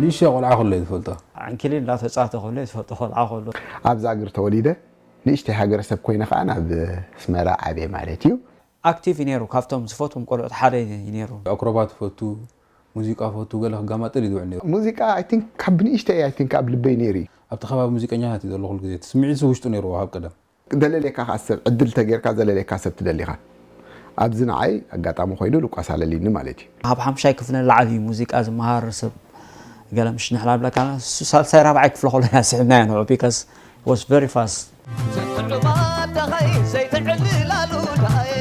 ንእሽተይ ቆልዓ ከሎ እየ ዝፈልጦ። ዓንኬሊን እናተጻተ ከሎ እየ ዝፈልጦ ቆልዓ ከሎ። ኣብ ዛግር ተወሊደ ንእሽተይ ሃገረሰብ ኮይነ ከኣ ናብ ኣስመራ ዓብየ ማለት እዩ። ኣክቲቭ እዩ ነይሩ ካብቶም ዝፈትዎም ቆልዑት ሓደ እዩ ነይሩ። ኣክሮባት እፈቱ ሙዚቃ እፈቱ ገለ ክጋማጥል እዩ ዝውዕል ነይሩ። ሙዚቃ ኣይ ቲንክ ካብ ንእሽተይ ኣይ ቲንክ ኣብ ልበይ ነይሩ እዩ። ኣብቲ ከባቢ ሙዚቀኛታት እዩ ዘሎ ኩሉ ግዜ እቲ ስምዒትሲ ውሽጡ ነይርዎ ካብ ቀደም። ዘለልየካ ከኣ ሰብ ዕድል ተገርካ ዘለልየካ ሰብ ትደሊ ኢካ ኣዚ ንዓይ ኣጋጣሚ ኮይኑ ልቋስ ኣለሊኒ ማለት ኢዩ። ኣብ ሓምሻይ ክፍለ ላዕሊ እዩ ሙዚቃ ዝመሃር ሰብ ገለ ምሽ ንሕና ንብለካ ኣለና ንሱ ሳልሳይ ራብዓይ ክፍለ ከሎ ኢና ስሒብናዮ ንዑ because he was very fast። ዝሕሉማ ደሃይ ዘይትዕልላሉ ደሃይ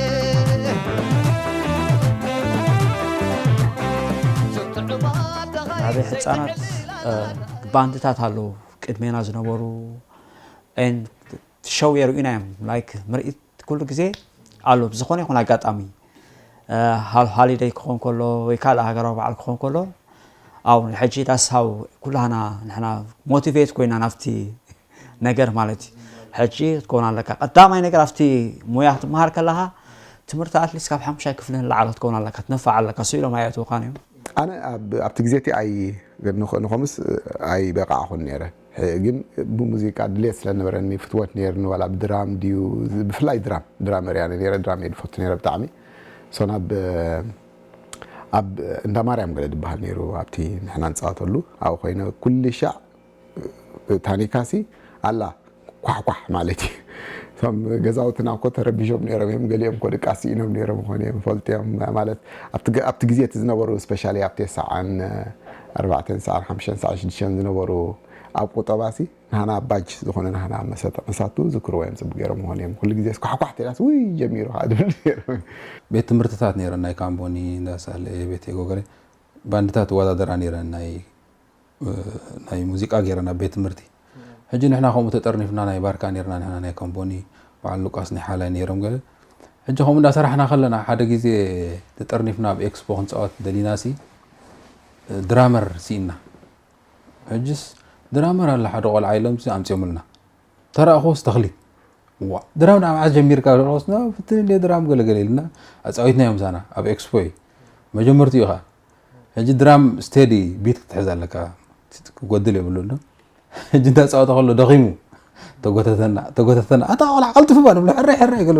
ኣበይ ሕጻናት ባንድታት ኣለዉ ቅድሜና ዝነበሩ and ሸው የርእዩና እዮም like ምርኢት ኩሉ ግዜ ኣሎ ብዝኾነ ይኹን ኣጋጣሚ ሃል ሃሊደይ ክኾን ከሎ ወይ ካልእ ሃገራዊ በዓል ክኾን ከሎ ኣብ ሕጂ ዳሳው ኩላና ንሕና ሞቲቬት ኮይና ናብቲ ነገር ማለት እዩ ሕጂ ክትከውን ኣለካ ቀዳማይ ነገር ኣብቲ ሙያ ክትመሃር ከለካ ትምህርቲ ኣትሊስት ካብ ሓሙሻይ ክፍሊ ንላዕሎ ክትከውን ኣለካ ትነፋዕ ኣለካ ስኢሎም ኣየእትውካን እዮም ኣነ ኣብቲ ግዜ እቲ ኣይ ንኮምስ ኣይ በቃዕኹን ነይረ ግን ብሙዚቃ ድሌት ስለ ዝነበረኒ ፍትወት ኔርኒ ዋላ ብ ድራም ድዩ ብፍላይ ድራም ድራመር እያ ኔረ ድራም እየ ድፈቱ ኔረ ብጣዕሚ so ናብ ኣብ እንዳ ማርያም ገለ ድበሃል ኔሩ ኣብቲ ንሕና ንጻወተሉ ኣብኡ ኮይነ ኩልሻዕ ታኒካ ሲ ኣላ ኳሕ ኳሕ ማለት እዩ እቶም ገዛውትና እኮ ተረቢሾም ኔሮም እዮም ገሊኦም እኮ ድቃስ ስኢኖም ኔሮም ይኾኑ እዮም ፈልጥዮም ማለት ኣብቲ ግዜ እቲ ዝነበሩ ስፔሻሊ ኣብ ቴስዓን ኣርባዕተን ሰዓን ሓምሽተን ሰዓን ሽዱሽተን ዝነበሩ ኣብ ቁጠባሲ ናህና ባጅ ዝኾነ ናህና መሰተ ከሳቱ ዝክርዎ እዮም ጽቡቅ ጌሮም ምኾኑ እዮም ኩሉ ግዜ ስኳሕኳሕ ተኢላሲ ውይ ጀሚሩ ከኣ ዝብሉ ኔሮም። ቤት ትምህርትታት ኔረን ናይ ካምቦኒ እንዳ ሳሌ ቤት የጎገሬ ባንድታት ይወዳደራ ኔረን ናይ ናይ ሙዚቃ ጌረን ኣብ ቤት ትምህርቲ። ሕጂ ንሕና ከምኡ ተጠርኒፍና ናይ ባርካ ኔርና ንሕና ናይ ከምቦኒ በዓል ሉቃስ ናይ ሓላይ ኔሮም ገለ ሕጂ ከምኡ እንዳ ሰራሕና ከለና ሓደ ግዜ ተጠርኒፍና ኣብ ኤክስፖ ክንጻወት ደሊናሲ ድራመር ሲኢና ሕጅስ ድራመር ኣለ ሓደ ቆልዓ ኢሎም ኣምጽዮምልና ተራእኹስ ተኽሊ ዋ ድራም ናብ ዓዝ ጀሚርካ ደረስና ፍትን እንደ ድራም ገለገለ ኢልና ኣፃዊትና እዮም ዛና ኣብ ኤክስፖ እዩ መጀመርትኡ ኢኻ ሕጂ ድራም ስቴዲ ቢት ክትሕዝ ኣለካ ክጎድል የብሉን ዶ ሕጂ እንዳጻወተ ከሎ ደኺሙ ተጎተተና ተጎተተና ኣታ ቆልዓ ቀልጥፉ ባ ንብሎ ሕረይ ሕረይ ክብል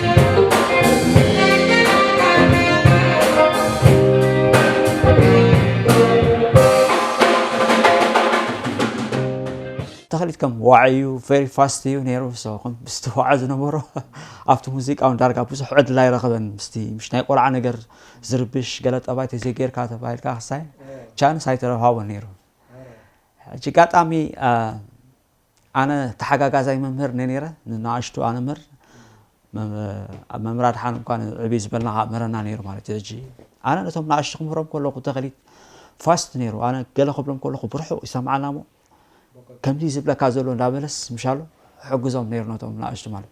ተኽሊት ከም ዋዒ እዩ ቨሪ ፋስት እዩ ነይሩ ሰኹም ምስቲ ዋዓ ዝነበሮ ኣብቲ ሙዚቃ እውን ዳርጋ ብዙሕ ዕድል ኣይረኸበን ምስቲ ምሽ ናይ ቆልዓ ነገር ዝርብሽ ገለ ጠባይ ተዘይጌርካ ተባሂልካ ክሳይ ቻንስ ኣይተረሃቦ ነይሩ ሕጂ ጋጣሚ ኣነ ተሓጋጋዛይ መምህር እኔ ነይረ ንኣሽቱ ኣነምህር ኣብ መምህር ኣድሓን እኳ ዕብይ ዝበልና ከዓ ምህረና ነይሩ ማለት እዩ ሕጂ ኣነ ነቶም ንኣሽቱ ክምህሮም ከለኹ ተኸሊት ፋስት ነይሩ ኣነ ገለ ክብሎም ከለኹ ብርሑቕ ይሰምዓና እሞ ከምዚ ዝብለካ ዘሎ እንዳበለስ ምሻሉ ሕግዞም ነይሩ ነቶም ንኣሽቱ ማለት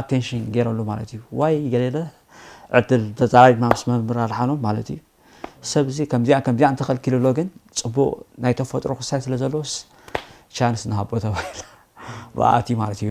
ኣቴንሽን ገይረሉ ማለት እዩ ዋይ ገለ ዕድል ተዛራሪብና ምስ መምህር ኣድሓኖም ማለት እዩ ሰብ እዚ ከምዚኣን ከምዚኣን ተኸልኪሉ ኣሎ ግን ፅቡቕ ናይ ተፈጥሮ ክስታይ ስለ ዘለዎስ ቻንስ ንሃቦ ተባሂሉ ብኣ ኣትዩ ማለት እዩ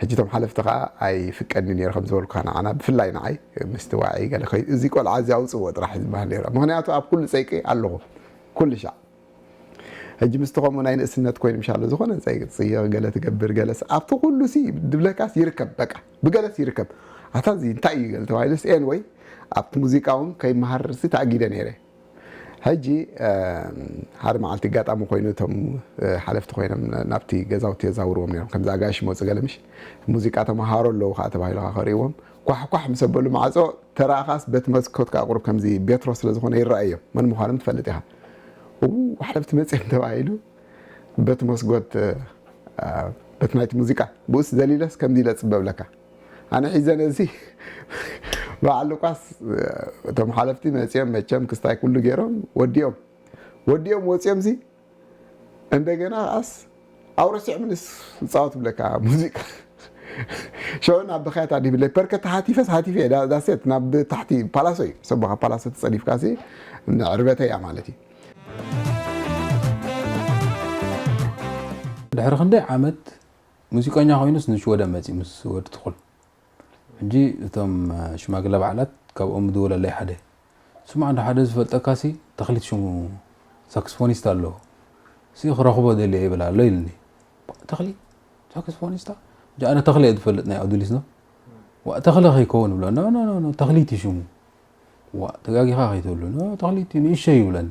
ሕጂ እቶም ሓለፍቲ ከኣ ኣይፍቀድን'ዩ ነይሩ ከም ዝበልኩካ ንዓና ብፍላይ ንዓይ ምስቲ ዋዒ ገለ ከይዱ እዚ ቆልዓ እዚ ኣውጽእዎ ጥራሕ እዩ ዝበሃል ነይሩ ምኽንያቱ ኣብ ኩሉ ጸይቂ ኣለኹ ኩሉሻዕ ሕጂ ምስቲ ከምኡ ናይ ንእስነት ኮይኑ ምሻሎ ዝኾነ ጸይቂ ትጽይቕ ገለ ትገብር ገለስ ኣብቲ ኩሉሲ ድብለካስ ይርከብ በቃ ብገለስ ይርከብ ኣታ እዚ እንታይ እዩ ገለ ተባሂሉስ ኤንወይ ኣብቲ ሙዚቃ እውን ከይመሃርሲ ተኣጊደ ነይረ ሕጂ ሓደ መዓልቲ ኣጋጣሚ ኮይኑ እቶም ሓለፍቲ ኮይኖም ናብቲ ገዛውቲ የዛውርዎም ነይሮም ከምዚ ኣጋይሽ ይመጹ ገለ ምሽ ሙዚቃ ተመሃሮ ኣለዉ ከኣ ተባሂሉ ከኣ ክርእይዎም ኳሕ ኳሕ ምስ ኣበሉ ማዕጾ ተራእኻስ በቲ መስኮት ከኣ ቁሩብ ከምዚ ቤትሮ ስለ ዝኾነ ይረኣዮም መን ምዃኖም ትፈልጥ ኢኻ እዉ ሓለፍቲ መጺኦም ተባሂሉ በቲ መስጎት በቲ ናይቲ ሙዚቃ ብኡስ ዘሊለስ ከምዚ ኢለ እጽበ እብለካ ኣነ ሒዘ ነዚ በዓል ሉቃስ እቶም ሓለፍቲ መጺኦም መቸም ክስታይ ኩሉ ገይሮም ወዲኦም ወዲኦም ወጺኦምሲ እንደገና ከዓስ ኣውረሲዖምንስ ዝጻወት ብለካ ሙዚቃ ሽዑ ናብ ብኸያት ኣዲብለይ ፐርከ ተሓቲፈስ ሓቲፈ እየ ዳሴት ናብ ታሕቲ ፓላሶ እዩ ሰቦኻ ፓላሶ ተጸዲፍካ ሲ ዕርበተይ እያ ማለት እዩ ድሕሪ ክንደይ ዓመት ሙዚቀኛ ኮይኑስ ንሽወደን መጺኡ ምስ ወዲ ትኹል ሕጂ እቶም ሽማግለ በዓላት ካብኦም ምድወለለይ ሓደ ስማዕ እንዶ ሓደ ዝፈልጠካሲ ተኽሊት ሽሙ ሳክስፎኒስት ኣሎ ሲ ክረኽቦ ደልየ ይብል ኣሎ ኢልኒ ተኽሊት ሳክስፎኒስታ ሕጂ ኣነ ተኽሊ እየ ዝፈልጥ ናይ ኣዱሊስ ዶ ዋእ ተኽሊ ከይከውን ይብሎ ኖ ኖ ኖ ተኽሊት እዩ ሽሙ ዋእ ተጋጊኻ ከይትብሉ ኖ ተኽሊት እዩ ንእሸ ይብለኒ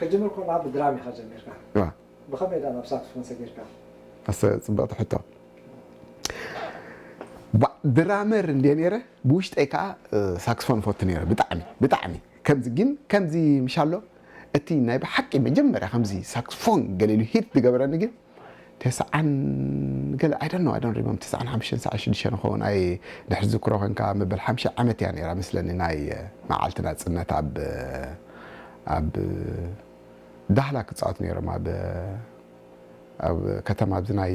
ከጅምር ኮሎኻ ብድራም ኢኻ ጀሚርካ ብኸመይ ድኣ ናብ ሳክስፎን ሰጊርካ? ኣሰይ ጽብቅቲ ሕቶ ድራመር እንድየ ነይረ ብውሽጠይ ከኣ ሳክስፎን እፈቱ ነይረ ብጣዕሚ ብጣዕሚ። ከምዚ ግን ከምዚ ምሻሎ እቲ ናይ ብሓቂ መጀመርያ ከምዚ ሳክስፎን ገለ ኢሉ ሂት ዝገበረኒ ግን ተስዓን ገለ ኣይ ዶንት ኖው ኣይ ዶንት ሪመምበር ተስዓን ሓሙሽተን ተስዓን ሽዱሽተን ይኸውን ኣይ ድሕሪ ዝክሮ ኮንካ መበል ሓምሻይ ዓመት እያ ነይራ መስለኒ ናይ መዓልቲ ናጽነት ኣብ ኣብ ዳህላክ ክጻወት ነይሮም ኣብ ኣብ ከተማ ኣብዚ ናይ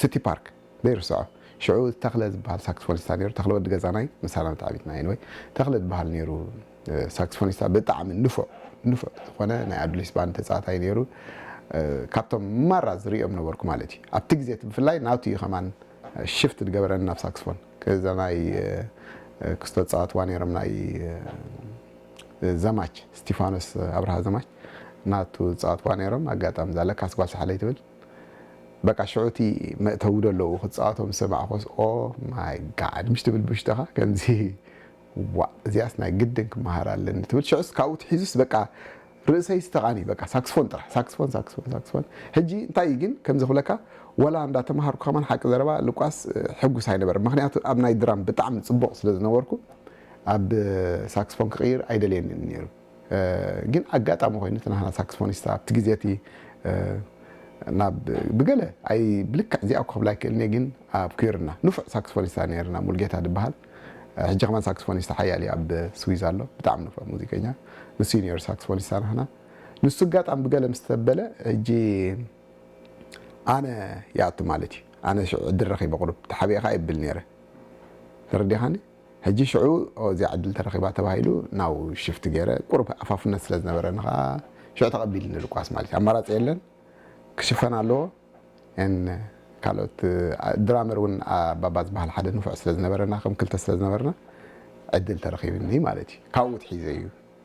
ሲቲ ፓርክ ዘይርስዖ ሽዑ ተኽለ ዝብሃል ሳክስፎኒስታ ነይሩ ተኽለ ወዲ ገዛናይ ምሳና ን ተዓቢትና ኤኒወይ ተኽለ ዝብሃል ነይሩ ሳክስፎኒስታ ብጣዕሚ ንፉዕ ንፉዕ ዝኾነ ናይ ኣዱሊስ ባንድ ተጻዋታይ ነይሩ ካብቶም ማራ ዝርእዮም ነበርኩ ማለት እዩ ኣብቲ ግዜ እቲ ብፍላይ ናቱ እዩ ከማን ሽፍት ዝገበረኒ ናብ ሳክስፎን እዛ ናይ ክስቶ ዝጻወትዋ ነይሮም ናይ ዘማች ስቲፋኖስ ኣብርሃ ዘማች ናቱ ዝጻወትዋ ነይሮም ኣጋጣሚ እዛ ለካስ ጓል ሳሕለይ ትብል በቃ ሽዑ እቲ መእተዊ ዶ ኣለዉ ክትጻወቶ ምስ ሰማዕኩስ ኦህ ማይ ጋድ ምሽ ትብል ብውሽጥኻ ከምዚ ዋእ እዚኣስ ናይ ግድን ክመሃራ ኣለኒ ትብል ሽዑስ ካብኡ ትሒዙስ በቃ ርእሰይስ ተቓንዩ በቃ ሳክስፎን ጥራሕ ሳክስፎን ሳክስፎን ሳክስፎን ሕጂ እንታይ እዩ ግን ከምዚ ክብለካ ወላ እንዳ ተማሃርኩ ከማን ሓቂ ዘረባ ልቋስ ሕጉስ ኣይነበረ ምኽንያቱ ኣብ ናይ ድራም ብጣዕሚ ጽቡቕ ስለ ዝነበርኩ ኣብ ሳክስፎን ክቕይር ኣይደልየንን ነይሩ ግን ኣጋጣሚ ኮይኑ እቲ ናህና ሳክስፎኒስታ ኣብቲ ግዜ እቲ ናብ ብገለ ኣይ ብልክዕ እዚኣ ክብላ ኣይክእልን እየ ግን ኣብ ኩይርና ንፉዕ ሳክስፎኒስታ ነይርና ሙልጌታ ድበሃል ሕጂ ከማን ሳክስፎኒስታ ሓያል እዩ ኣብ ስዊዝ ኣሎ ብጣዕሚ ንፉዕ ሙዚቀኛ ንሱ እዩ ነይሩ ሳክስፎኒስታ ናህና ንሱ ኣጋጣሚ ብገለ ምስ ተበለ ሕጂ ኣነ ይኣቱ ማለት እዩ ኣነ ሽዑ ዕድል ረኺበ ቁሩብ ተሓቢኤ ከኣ የብል ነይረ ተረዲኻኒ ሕጂ ሽዑ እዚ ዕድል እንተረኺባ ተባሂሉ ናው ሽፍት ገይረ ቁሩብ ኣፋፍነት ስለ ዝነበረኒ ከኣ ሽዑ ተቐቢልኒ ልቋስ ማለት እዩ ኣማራጺ የለን ክሽፈን ኣለዎ and ካልኦት ድራመር ውን ኣባባ ዝበሃል ሓደ ንፉዕ ስለ ዝነበረና ከም ክልተ ስለ ዝነበርና ዕድል ተረኺብኒ ማለት እዩ ካብኡ ትሒዘ እዩ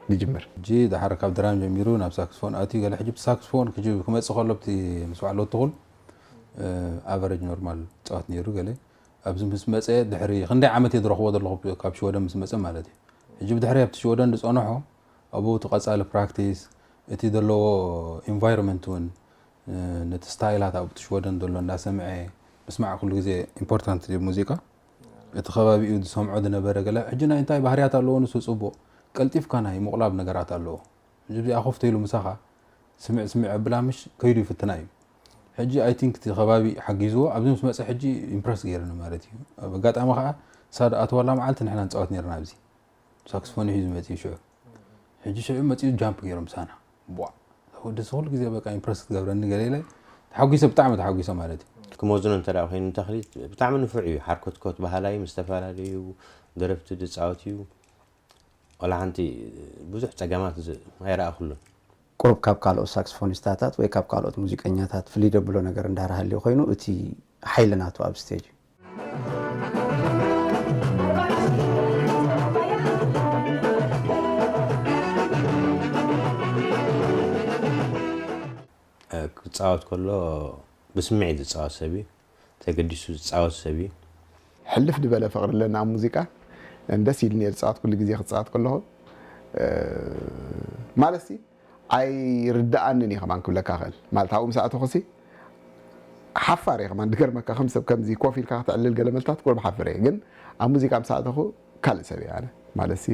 ዝጅምር። ሕጂ ደሓር ካብ ድራም ጀሚሩ ናብ ሳክስፎን ኣትዩ ገለ ሕጂ ብቲ ሳክስፎን ክመጽእ ከሎ ብቲ ምስ በዓል ወትኹል ኣቨረጅ ኖርማል ይጻወት ነይሩ ገለ ኣብዚ ምስ መጸ ድሕሪ ክንደይ ዓመት እየ ዝረኽቦ ዘለኹ ካብ ሽወደን ምስ መጸ ማለት እዩ ሕጂ ብድሕሪ ኣብቲ ሽወደን ዝጸንሖ ኣብኡ እቲ ቀጻሊ ፕራክቲስ እቲ ዘለዎ ኢንቫይሮንመንት እውን ነቲ ስታይላት ኣብቲ ሽወደን ዘሎ እንዳሰምዐ ምስማዕ ኩሉ ግዜ ኢምፖርታንት እዩ ሙዚቃ እቲ ከባቢኡ ዝሰምዖ ዝነበረ ገለ ሕጂ ናይ እንታይ ባህርያት ኣለዎ ንሱ ጽቡቕ ቀልጢፍካ ናይ ምቑላብ ነገራት ኣለዎ ሕጂ እዚኣ ኮፍ ተይሉ ምሳኻ ስምዕ ስምዕ ኣብላ ምሽ ከይዱ ይፍትና እዩ ሕጂ ኣይ ቲንክ እቲ ከባቢ ሓጊዝዎ ኣብዚ ምስ መጸ ሕጂ ኢምፕረስ ገይርኒ ማለት እዩ ኣብ ኣጋጣሚ ከኣ እሳ ድኣተወላ መዓልቲ ንሕና ንጻወት ነርና ኣብዚ ሳክስፎን ሒዙ መጺኡ ሽዑ ሕጂ ሽዑ መጺኡ ጃምፕ ገይሩ ምሳና ቧዕ ወዲ እዚ ኩሉ ግዜ በቃ ኢምፕረስ ክትገብረኒ ገለ ኢለ ተሓጒሰ ብጣዕሚ ተሓጒሰ ማለት እዩ ክመዝኖ እንተ ኮይኑ ንተኽሊት ብጣዕሚ ንፉዕ እዩ ሓርኮትኮት በሃላይ ምስ ዝተፈላለዩ ደረፍቲ ዝፃወት እዩ ዋላ ሓንቲ ብዙሕ ጸገማት ኣይረኣኹሉን። ቁሩብ ካብ ካልኦት ሳክስፎኒስታታት ወይ ካብ ካልኦት ሙዚቀኛታት ፍልይ ደብሎ ነገር እንዳ ሃልዩ ኮይኑ እቲ ሓይሊ ናቱ ኣብ ስቴጅ እዩ። ክጻወት ከሎ ብስምዒት ዝጻወት ሰብ እዩ። ተገዲሱ ዝጻወት ሰብ እዩ። ሕልፍ ድበለ ፍቅሪ ኣለና ኣብ ሙዚቃ ን ደስ ኢልኒ እየ ዝጻወት ኩሉ ግዜ ክጻወት ከለኩ ማለት ሲ ኣይርደኣንን እዩ ከማን ክብለካ ይክእል ማለት ኣብኡ ምስ ኣተኩሲ ሓፋር እየ ከማን ድገርመካ ከም ሰብ ከምዚ ኮፍ ኢልካ ከተዕልል ገለ መልታት ቁሩብ ሓፍር እየ ግን ኣብ ሙዚቃ ምስ ኣተኩ ካልእ ሰብ እየ ኣነ ማለትሲ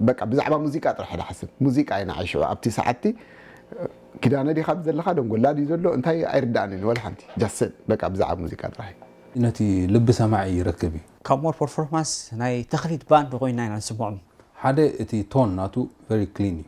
በቃ ብዛዕባ ሙዚቃ ጥራሕ ድሓስብ ሙዚቃ እዩ ንዓይ ሽዑ ኣብቲ ሰዓትቲ ኪዳነ ዲካ ኣብዚ ዘለካ ደንጎላ ድዩ ዘሎ እንታይ ኣይርደኣንን ወላ ሓንቲ ጃስት ስብ በቃ ብዛዕባ ሙዚቃ ጥራሕ እዩ ነቲ ልቢ ሰማዒ ይረክብ እዩ። ካብ ሞር ፐርፎርማንስ ናይ ተኽሊት ባንድ ኮይና ኢና ንስምዖም። ሓደ እቲ ቶን ናቱ ቨሪ ክሊን እዩ።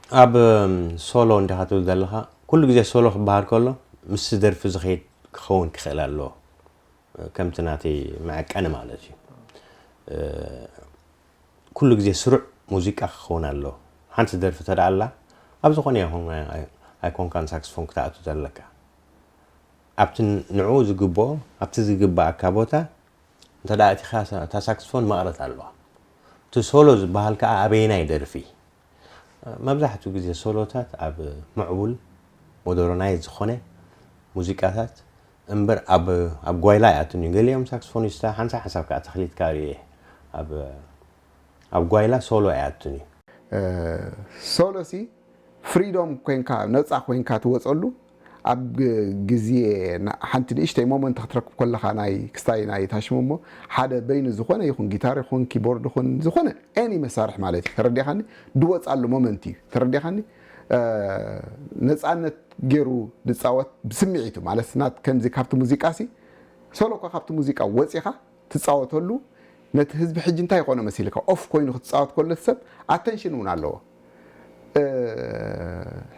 ኣብ ሶሎ እንዲኻ ትብል ዘለኻ ኩሉ ግዜ ሶሎ ክበሃል ከሎ ምስቲ ደርፊ ዝኸይድ ክኸውን ክኽእል ኣለዎ ከምቲ ናተይ መዐቀኒ ማለት እዩ ኩሉ ግዜ ስሩዕ ሙዚቃ ክኸውን ኣለዎ ሓንቲ ደርፊ ተደኣ ኣላ ኣብ ዝኾነ ይኹን ኣይኮንካን ሳክስፎን ክትኣቱ ዘለካ ኣብቲ ንዕኡ ዝግብኦ ኣብቲ ዝግባኣካ ቦታ እንተ እቲኻ እታ ሳክስፎን መቕረት ኣለዋ እቲ ሶሎ ዝበሃል ከዓ ኣበየናይ ደርፊ መብዛሕትኡ ግዜ ሶሎታት ኣብ ምዕቡል፣ ሞደረናይዝ ዝኾነ፣ ሙዚቃታት እምበር ኣብ ኣብ ጓይላ ኣይኣቱን እዩ። ገሊኦም ሳክስፎኒስታ ሓንሳብ ሓንሳብ ከኣ ተኽሊትካ ርእየ ኣብ ኣብ ጓይላ ሶሎ ኣይኣቱን እዩ። ሶሎሲ ፍሪዶም ኮንካ ነጻ ኮንካ ትወጸሉ ኣብ ግዜ ሓንቲ ንእሽተይ ሞመንት ክትረክብ ኮለኻ ናይ ክስታይ ናይ ታሽሙሞ ሓደ በይኑ ዝኾነ ይኹን ጊታር ይኹን ኪቦርድ ይኹን ዝኾነ ኤኒ መሳርሒ ማለት እዩ ተረዲእኻኒ ድወጻሉ ሞመንት እዩ ተረዲእኻኒ ነጻነት ጌሩ ድጻወት ብስምዒቱ ማለት ናት ከምዚ ካብቲ ሙዚቃሲ ሶሎኳ ካብቲ ሙዚቃ ወጺኻ ትጻወተሉ ነቲ ህዝቢ ሕጂ እንታይ ይኾኖ መሲልካ ኦፍ ኮይኑ ክትጻወት ኮሎ እቲ ሰብ ኣተንሽን ውን ኣለዎ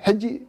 ሕጂ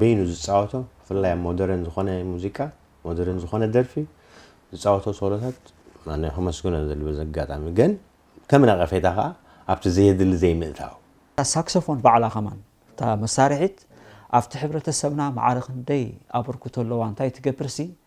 በይኑ ዝጻወቶ ብፍላይ ኣብ ሞደርን ዝኾነ ሙዚቃ ሞደርን ዝኾነ ደርፊ ዝጻወቶ ሶሎታት ማነ ከመስግኖ ዘል በዚ ኣጋጣሚ ግን ከም ነቐፌታ ከኣ ኣብቲ ዘየድሊ ዘይምእታው እታ ሳክሰፎን ባዕላ ከማን እታ መሳርሒት ኣብቲ ሕብረተሰብና ማዕረ ክንደይ ኣበርክቶ ኣለዋ እንታይ ትገብርሲ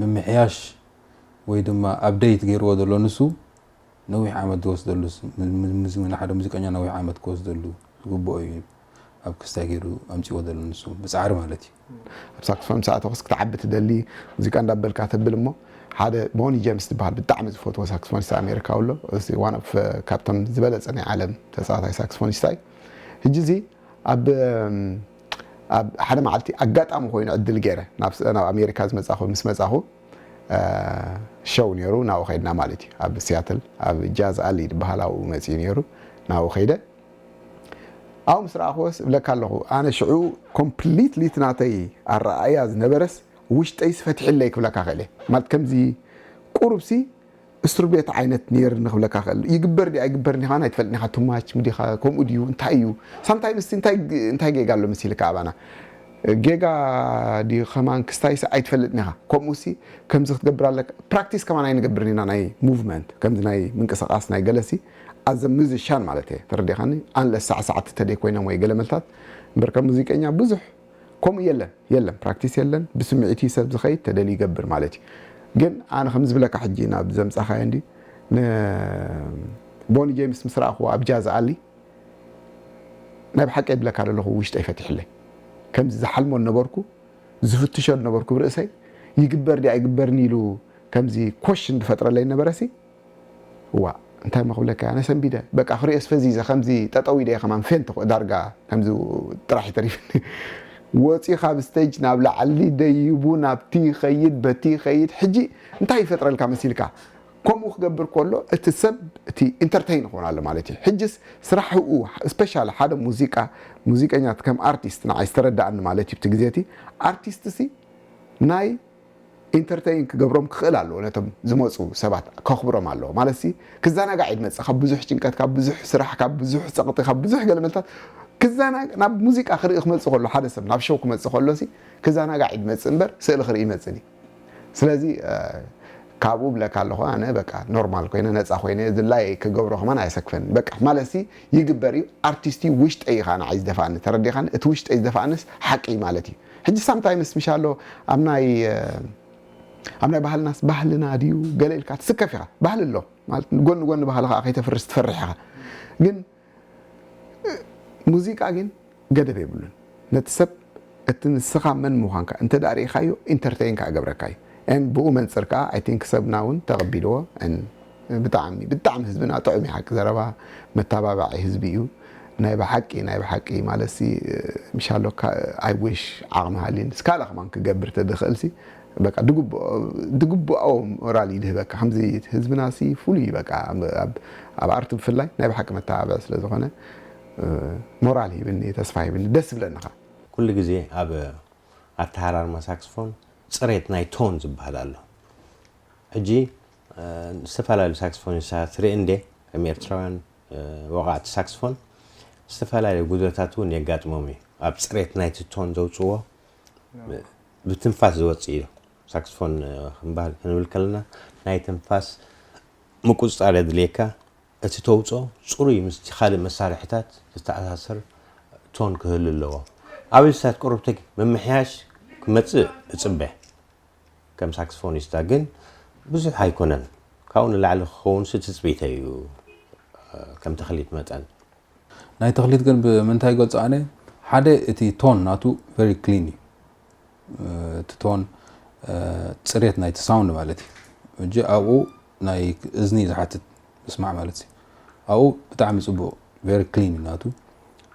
ምምሕያሽ ወይ ድማ ኣብደይት ገይርዎ ዘሎ ንሱ ነዊሕ ዓመት ዝወስደሉ ናይ ሓደ ሙዚቀኛ ነዊሕ ዓመት ክወስደሉ ዝግብኦ እዩ ኣብ ክስታይ ገይሩ ኣምፅዎ ዘሎ ንሱ ብፃዕሪ ማለት እዩ ኣብ ሳክስፎን ምስ ኣተኹስ ክትዓቢ ትደሊ ሙዚቃ እንዳበልካ ተብል እሞ ሓደ ቦኒ ጀምስ ዝበሃል ብጣዕሚ ዝፈትዎ ሳክስፎኒስት ኣሜሪካዊ ኣሎ እዚ ዋን ኦፍ ካብቶም ዝበለፀ ናይ ዓለም ተፃዋታይ ሳክስፎኒስት እዩ ሕጂ እዚ ኣብ ኣብ ሓደ መዓልቲ ኣጋጣሚ ኮይኑ ዕድል ገይረ ናብ ናብ ኣሜሪካ ዝመጻኹ ምስ መጻኹ ሸው ነይሩ ናብኡ ከድና ማለት እዩ ኣብ ሲያትል ኣብ ጃዝ ኣሊ ዝበሃል ኣብኡ መጺኡ ነይሩ ናብኡ ከይደ ኣብኡ ምስ ረኣኹወስ እብለካ ኣለኹ ኣነ ሽዑ ኮምፕሊትሊ እቲ ናተይ ኣረኣእያ ዝነበረስ ውሽጠይስ ፈትሒለይ ክብለካ ክእለ ማለት ከምዚ ቁሩብሲ እስርቤት ዓይነት ኔርኒ ክብለካ ክእል ይግበር ድዩ ኣይግበርን ኢካ ውን ኣይትፈልጥን ኢካ ቱማች ምዲካ ከምኡ ድዩ እንታይ እዩ ሳምታይምስ እንታይ ጌጋ ኣሎ መሲልካ ኣባና ጌጋ ድዩ ከማን ክስታይስ ኣይትፈልጥን ኢካ ከምኡሲ ከምዚ ክትገብር ኣለካ ፕራክቲስ ከማን ኣይንገብርን ኢና ናይ ሙቭመንት ከምዚ ናይ ምንቅስቃስ ናይ ገለሲ ኣዘ ሙዚሻን ማለት እየ ተረዲካኒ ኣንለስ ሳዕሳዕቲ ተደይ ኮይኖም ወይ ገለመልታት እምበርካ ሙዚቀኛ ብዙሕ ከምኡ የለን የለን ፕራክቲስ የለን ብስሚዒት እዩ ሰብ ዝከይድ ተደልዩ ይገብር ማለት እዩ ግን ኣነ ከምዚ ዝብለካ ሕጂ ናብ ዘምጻካዮ እንዲ ን ቦኒ ጀምስ ምስ ረኣክዎ ኣብ ጃዝ ኣሊ ናይ ብሓቀይ ብለካ ደለኩ ውሽጠይ ፈቲሕለይ ከምዚ ዝሓልሞ ዝነበርኩ ዝፍትሾ ዝነበርኩ ብርእሰይ ይግበር ድዩ ኣይግበርን ኢሉ ከምዚ ኮሽን ዝፈጥረለይ ዝነበረሲ ዋእ እንታይ እሞ ክብለካ ኣነ ሰንቢደ በቃ ክሪኦስ ፈዚዘ ከምዚ ጠጠው ኢለ እየ ከማን ፌንት ኮ ዳርጋ ከምዚ ጥራሕ እዩ ተሪፍኒ ወጺኡ ካብ ስተጅ ናብ ላዕሊ ደይቡ ናብቲ ይኸይድ በቲ ይኸይድ ሕጂ እንታይ ይፈጥረልካ መሲልካ ከምኡ ክገብር ከሎ እቲ ሰብ እቲ ኢንተርተይን ክኾን ኣሎ ማለት እዩ ሕጅስ ስራሕኡ ስፔሻሊ ሓደ ሙዚቃ ሙዚቀኛ ከም ኣርቲስት ንዓይ ዝተረዳእኒ ማለት እዩ እቲ ግዜ እቲ ኣርቲስት ሲ ናይ ኢንተርተይን ክገብሮም ክኽእል ኣለዎ ነቶም ዝመጹ ሰባት ከኽብሮም ኣለዎ ማለትሲ ክዛናጋዕ እዩ ዝመጽእ ካብ ብዙሕ ጭንቀት ካብ ብዙሕ ስራሕ ካብ ብዙሕ ጸቕጢ ካብ ብዙሕ ገለመልታት ክዛና ናብ ሙዚቃ ክርኢ ክመጽእ ከሎ ሓደ ሰብ ናብ ሸው ክመጽእ ከሎሲ ክዛናጋዕ እዩ ዝመጽእ እምበር ስእሊ ክርኢ ይመጽእ ድዩ ስለዚ ካብኡ ብለካ ኣለኹ ኣነ በቃ ኖርማል ኮይነ ነፃ ኮይነ ዝላየይ ክገብሮ ከማን ኣየሰክፈንን በቃ ማለትሲ ይግበር እዩ ኣርቲስት እዩ ውሽጠይ እዩ ከዓ ንዓይ ዝደፋኣኒ ተረዲኻኒ እቲ ውሽጠይ ዝደፋኣንስ ሓቂ እዩ ማለት እዩ ሕጂ ሳምታይምስ ምሻሎ ኣብ ናይ ኣብ ናይ ባህልናስ ባህልና ድዩ ገለ ኢልካ ትስከፍ ኢኻ ባህሊ ኣሎ ማለት ጎኒ ጎኒ ባህሊ ከዓ ከይተፍርስ ትፈርሕ ኢኻ ግን ሙዚቃ ግን ገደብ የብሉን ነቲ ሰብ እቲ ንስኻ መን ምዃንካ እንተ ርኢኻዮ ኢንተርተይን ከኣ ገብረካ እዩ ን ብኡ መንፅር ከዓ ኣይ ቲንክ ሰብና እውን ተቐቢልዎ ን ብጣዕሚ ብጣዕሚ ህዝብና ጥዑም ዩ ሓቂ ዘረባ መታባባዒ ህዝቢ ዩ ናይ ብሓቂ ናይ ብሓቂ ማለትሲ ምሻሎ ኣይ ዊሽ ዓቅሚ ሃልዩኒ ስካላ ከማን ክገብር ተድክእልሲ በቃ ድግብኦ ድግብኦ ሞራል ይድህበካ ከምዚ ህዝብና ሲ ፍሉይ ዩ በቃ ኣብ ኣርት ብፍላይ ናይ ብሓቂ መታባብዒ ስለ ዝኮነ ሞራል ሂብኒ ተስፋ ሂብኒ ደስ ይብለኒ ከኣ። ኩሉ ግዜ ኣብ ኣተሃራርማ ሳክስፎን ጽሬት ናይ ቶን ዝብሃል ኣሎ ሕጂ ዝተፈላለዩ ሳክስፎኒስታት ርኢ እንዴ ከም ኤርትራውያን ወቓዕቲ ሳክስፎን ዝተፈላለዩ ጉድለታት እውን የጋጥሞም እዩ ኣብ ፅሬት ናይቲ ቶን ዘውፅዎ ብትንፋስ ዝወፅእ እዩ ሳክስፎን ክንባል ክንብል ከለና ናይ ትንፋስ ምቁፅፃር የድልየካ እቲ ተውፅኦ ፅሩይ ምስቲ ካልእ መሳርሕታት ዝተኣሳሰር ቶን ክህሉ ኣለዎ ኣብ እንስሳት ቅሩብቲ ምምሕያሽ ክመፅእ እፅበ ከም ሳክስፎኒስታ ግን ብዙሕ ኣይኮነን፣ ካብኡ ንላዕሊ ክኸውንሲ ትጽቢተይ እዩ፣ ከም ተኽሊት መጠን። ናይ ተኽሊት ግን ብምንታይ ይገልጾ ኣነ ሓደ እቲ ቶን ናቱ ቨሪ ክሊን እዩ እቲ ቶን ጽሬት ናይቲ ሳውንድ ማለት እዩ እጂ ኣብኡ ናይ እዝኒ ዝሓትት ምስማዕ ማለት እዩ ኣብኡ ብጣዕሚ ጽቡቅ ቨሪ ክሊን እዩ ናቱ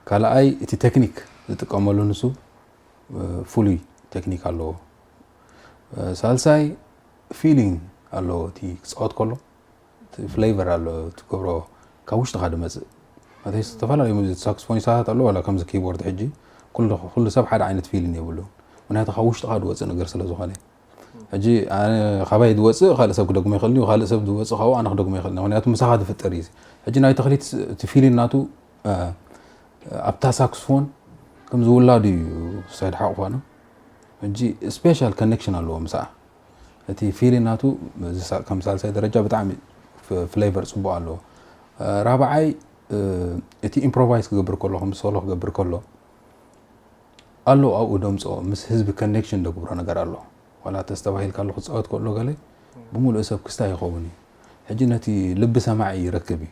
ካልኣይ እቲ ቴክኒክ ዝጥቀመሉ ንሱ ፍሉይ ቴክኒክ ኣለዎ ሳልሳይ ፊሊንግ ኣለዎ እቲ ክፃወት ከሎ እቲ ፍሌቨር ኣሎ ትገብሮ ካብ ውሽጥካ ድመፅእ ማለት ዝተፈላለዩ ሙዚ ሳክስፎኒስታት ኣለዎ ዋላ ከምዚ ኪቦርድ ሕጂ ኩሉ ሰብ ሓደ ዓይነት ፊሊንግ የብሉን ምክንያቱ ካብ ውሽጥካ ድወፅእ ነገር ስለ ዝኾነ ሕጂ ካባይ ዝወፅእ ካልእ ሰብ ክደግሞ ይኽእል እዩ ካልእ ሰብ ዝወፅእ ካብኡ ኣነ ክደግሞ ይኽእል ምክንያቱ ምሳኻ ዝፍጠር እዩ ሕጂ ናይ ተኽሊት እቲ ፊሊን ናቱ ኣብታ ሳክስፎን ከም ዝውላዱ እዩ ሳይድ ሓቑፋና ሕጂ ስፔሻል ከነክሽን ኣለዎ ምስኣ እቲ ፊሊ ናቱ ከም ሳልሳይ ደረጃ ብጣዕሚ ፍሌቨር ጽቡቅ ኣለዎ ራብዓይ እቲ ኢምፕሮቫይዝ ክገብር ከሎ ከም ሶሎ ክገብር ከሎ ኣሎ ኣብኡ ደምፆ ምስ ህዝቢ ከነክሽን ደግብሮ ነገር ኣሎ ዋላ ተስተባሂልካ ኣሎ ክፃወት ከሎ ገለ ብምሉእ ሰብ ክስታ ይኸውን እዩ ሕጂ ነቲ ልቢ ሰማዒ ይረክብ እዩ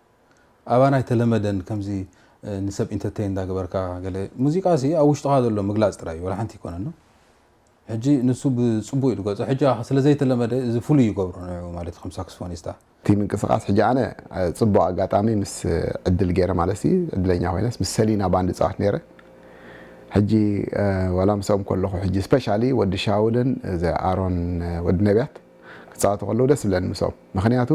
ኣባና ኣይተለመደን ከምዚ ንሰብ ኢንተርተይን እንዳገበርካ ገለ ሙዚቃሲ ኣብ ውሽጥኻ ዘሎ ምግላጽ ጥራይ እዩ ወላ ሓንቲ ኣይኮነን ሕጂ ንሱ ብጽቡቅ እዩ ዝገልጾ ሕጂ ከኣ ስለ ዘይተለመደ እዚ ፍሉይ ይገብሮ ንዕኡ ማለት እዩ ከም ሳክስፎኒስታ እቲ ምንቅስቃስ ሕጂ ኣነ ጽቡቅ ኣጋጣሚ ምስ ዕድል ጌረ ማለትሲ ዕድለኛ ኮይነስ ምስ ሰሊና ባንድ ይጻወት ኔረ ሕጂ ወላ ምስኦም ከለኹ ሕጂ ስፐሻሊ ወዲ ሻውልን እዚ ኣሮን ወዲ ነብያት ክጻወቱ ከለዉ ደስ ዝብለኒ ምስኦም ምክንያቱ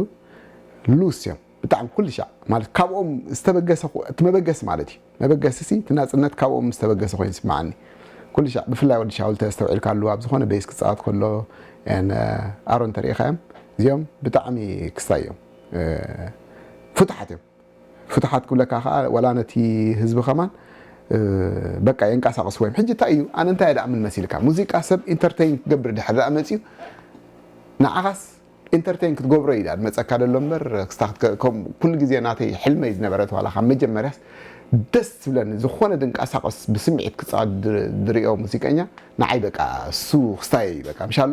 ሉስ እዮም ብጣዕሚ ኩልሻዕ ማለት ካብኦም ዝተበገሰ እቲ መበገሲ ማለት እዩ መበገሲ ሲ እቲ ናጽነት ካብኦም ዝተበገሰ ኮይኑ ስምዓኒ ኩልሻዕ ብፍላይ ወዲ ሻውል ተስተውዒልካሉ ኣብ ዝኾነ ቤስ ክጻወት ከሎ ኣሮን ተሪኢኻዮም እዚኦም ብጣዕሚ ክስታይ እዮም ፍቱሓት እዮም ፍትሓት ክብለካ ከኣ ዋላ ነቲ ህዝቢ ከማን በቃ የንቃሳቅስዎ እዮም ሕጂ እንታይ እዩ ኣነ እንታይ ደኣምን መሲልካ ሙዚቃ ሰብ ኢንተርተይን ክገብር ድሕር ደኣ መጺኡ ንዓኻስ ኢንተርተይን ክትገብሮ እዩ ደኣ መጸካ ደሎ እምበር ክስታ ኩሉ ግዜ ናተይ ሕልመይ ዝነበረት ዋላ ካብ መጀመርያስ ደስ ትብለኒ ዝኾነ ድንቃሳቀስ ብስምዒት ክጻወት ድርእዮ ሙዚቀኛ ንዓይ በቃ እሱ ክስታይ እዩ በቃ ምሻሎ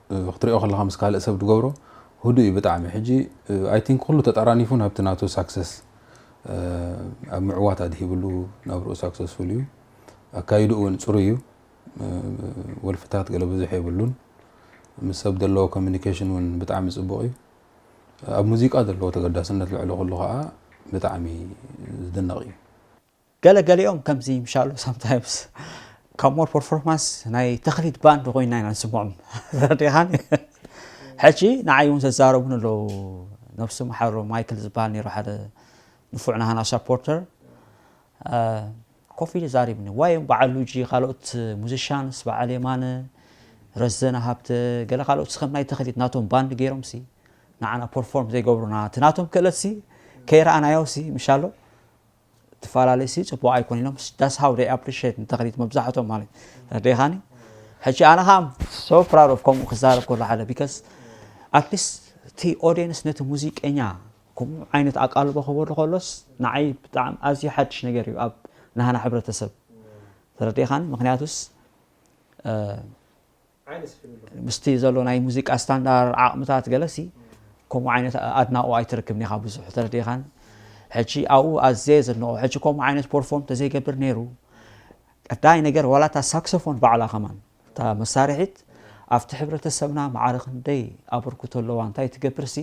ክትሪኦ ከለካ ምስ ካልእ ሰብ ድገብሮ ሁዱእ እዩ ብጣዕሚ ሕጂ ኣይ ቲንክ ኩሉ ተጣራኒፉ ናብቲ ናቱ ሳክሰስ ኣብ ምዕዋት ኣድሂብሉ ናብርኡ ሳክሰስፉል እዩ ኣካይድኡ እውን ፅሩይ እዩ ወልፍታት ገለ ብዙሕ የብሉን ምስ ሰብ ዘለዎ ኮሚኒኬሽን እውን ብጣዕሚ ፅቡቅ እዩ ኣብ ሙዚቃ ዘለዎ ተገዳስነት ልዕሊ ኩሉ ከዓ ብጣዕሚ ዝድነቅ እዩ ገለ ገሊኦም ከምዚ ምሻሎ ሳምታይምስ ካብ ሞር ፐርፎርማንስ ናይ ተኽሊት ባንድ ኮይና ኢና ንስምዖም ረዲኻኒ ሕጂ ንዓይ እውን ዘዛረቡን ኣለዉ ነብሱ መሓሮ ማይክል ዝበሃል ነይሩ ሓደ ንፉዕ ናሃና ሳፖርተር ኮፍ ኢሉ ዛሪብኒ ዋይ በዓል ሉጂ ካልኦት ሙዚሻንስ በዓል የማነ ረዘነ ሃብተ ገለ ካልኦት ስከም ናይ ተኽሊት ናቶም ባንድ ገይሮም ሲ ንዓና ፐርፎርም ዘይገብሩና እቲ ናቶም ክእለት ሲ ከይረኣናዮ ሲ ምሻሎ ትፋላለ ሲ ጽቡቅ ኣይኮን ኢሎም ዳስ ሃው ደይ ኣፕሪሽት ንተክሊት መብዛሕቶም ማለት ረዲኻኒ ሕጂ ኣነ ከዓ ሶ ፕራድ ኦፍ ከምኡ ክዛረብ ከሎ ሓደ ቢካስ ኣትሊስት እቲ ኦዲየንስ ነቲ ሙዚቀኛ ከምኡ ዓይነት ኣቃልቦ ክበሉ ከሎስ ንዓይ ብጣዕሚ ኣዝዩ ሓድሽ ነገር እዩ ኣብ ናህና ሕብረተሰብ ተረዲኻኒ ምክንያቱስ ምስቲ ዘሎ ናይ ሙዚቃ ስታንዳር ዓቕምታት ገለሲ ከምኡ ዓይነት ኣድናቑ ኣይትርክብን ኢኻ ብዙሕ ተረዲኻን ሕጂ ኣብኡ ኣዘየ ዘድንቆ ሕጂ ከምኡ ዓይነት ፖርፎርም ተዘይገብር ነይሩ ቀዳይ ነገር ዋላ እታ ሳክሶፎን ባዕላ ከማን እታ መሳርሒት ኣብቲ ሕብረተሰብና ማዕረ ክንደይ ኣበርክቶ ኣለዋ እንታይ ትገብርሲ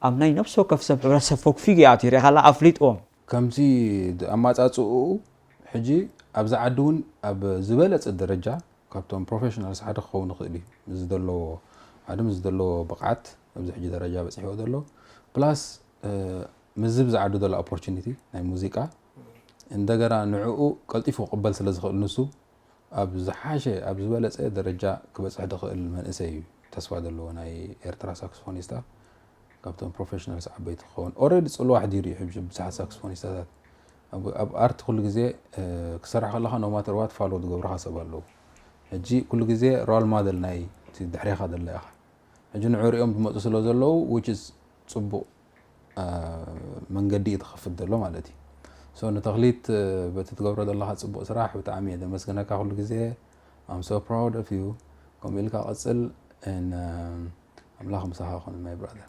ኣብ ናይ ነብሲ ወከፍ ሰብ ሕብረተሰብ ፈግፊጉ ይኣትዩ ሪኢኻላ ኣፍሊጥዎም ከምቲ ኣማጻጽእኡ ሕጂ ኣብዛ ዓዲ ውን ኣብ ዝበለጸ ደረጃ ካብቶም ፕሮፈሽናልስ ሓደ ክኸውን ይኽእል እዩ ምስ ዘለዎ ሓደ ምስ ዘለዎ ብቕዓት ኣብዚ ሕጂ ደረጃ በጺሕዎ ዘሎ ፕላስ ምስዚ ብዝዓዱ ዘሎ ኦፖርቹኒቲ ናይ ሙዚቃ እንደገና ንዕኡ ቀልጢፉ ክቕበል ስለ ዝኽእል ንሱ ኣብ ዝሓሸ ኣብ ዝበለጸ ደረጃ ክበጽሕ ድኽእል መንእሰይ እዩ ተስፋ ዘለዎ ናይ ኤርትራ ሳክስፎኒስታ ካብቶም ፕሮፌሽናልስ ዓበይቲ ክኸውን ኦረዲ ጽልዋ ኣሕዲሩ እዩ ሕጂ ብዙሓት ሳክስፎኒስታታት ኣብ ኣርት ኩሉ ግዜ ክሰራሕ ከለካ ኖማተር ዋት ፋሎ ዝገብርካ ሰብ ኣለዉ ሕጂ ኩሉ ግዜ ሮል ማደል ናይ ድሕሬኻ ደላ ኢኻ ሕጂ ንዑ ሪኦም ዝመፁ ስለ ዘለዉ ዊች ፅቡቅ መንገዲ እዩ ትኸፍት ዘሎ ማለት እዩ ሶ ንተኽሊት በቲ ትገብሮ ዘለኻ ፅቡቅ ስራሕ ብጣዕሚ እየ ዘመስግነካ ኩሉ ግዜ I'm so proud of you ከምኡ ኢልካ ቀፅል and ኣምላኽ ምሳኻ ይኹን my brother